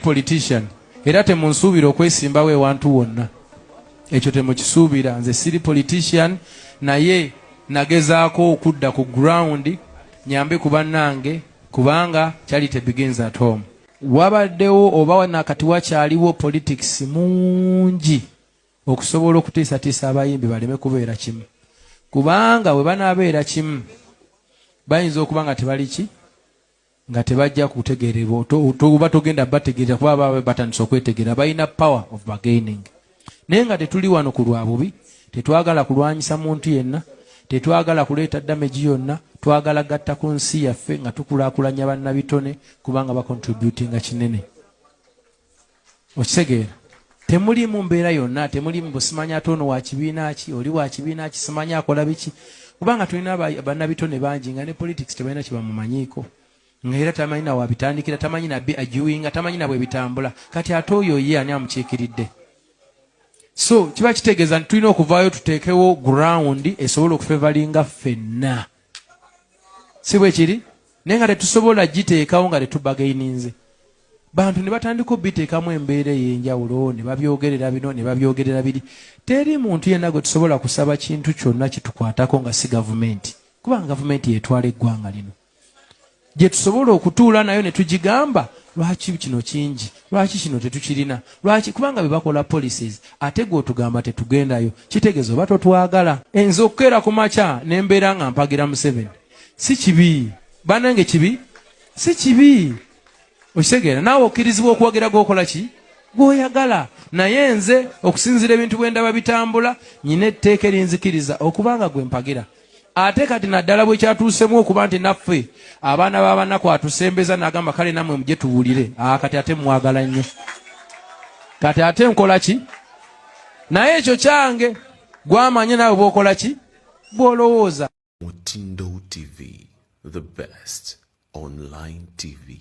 politician era temunsuubira okwesimbawo ewantu wonna ekyo temukisuubira nze siri politician naye nagezaako okudda ku ground nyambe ku bannange kubanga charity begins at home wabaddewo oba nakati wakyaliwo politics mungi okusobola okutiisatiisa abayimbi baleme kubeera kimu kubanga bwe banaabeera kimu bayinza okuba nga tebaliki nga tebajja kutegererwa oba togenda bategerera kuba baba batandise okwetegerera balina power of bargaining naye nga tetuli wano ku lwa bubi tetwagala kulwanyisa muntu yenna tetwagala kuleeta damegi yonna twagala gatta ku nsi yaffe nga tukulakulanya bannabitone kubanga bakontributinga kinene okitegeera temulimu mbeera yonna temulimu busimanya ate ono wakibiina ki oli wakibiina ki simanya akola biki kubanga tulina banabitone bangi nga ne politics tebalina kyebamumanyiiko nga era tamanyi na wabitandikira tamanyi nabi ajuinga tamanyi nabwe bitambula kati ate oyo ye ani amukiikiridde so kiba kitegeeza nti tulina okuvaayo tuteekewo ground esobola okufevalinga ffenna si bwe kiri naye nga tetusobola giteekawo nga tetubagaininze bantu ne batandika obiteekamu embeera ey'enjawulo ne babyogerera bino ne babyogerera biri teri muntu yenna gwe tusobola kusaba kintu kyonna kitukwatako nga si gavumenti kubanga gavumenti yetwala eggwanga lino gye tusobola okutuula nayo ne tugigamba lwaki kino kingi lwaki kino tetukirina lwaki kubanga bye bakola policies ate gwe otugamba tetugendayo kitegeeza oba totwagala enze okukeera ku makya ne mbeera nga mpagira museveni si kibi banange kibi si kibi okitegeera naawe okkirizibwa okuwagira gwokola ki gwoyagala naye nze okusinziira ebintu bwendaba bitambula nyina etteeka erinzikiriza okubanga gwe mpagira ate kati naddala bwekyatuusemu okuba nti naffe abaana babanaku atusembeza nagamba kale namwe muje tuwulire ah, kati ate mwagala nnyo kati ate nkola ki naye ekyo kyange gwamanye naawe bwokola ki bwolowooza mutindo tv the best online tv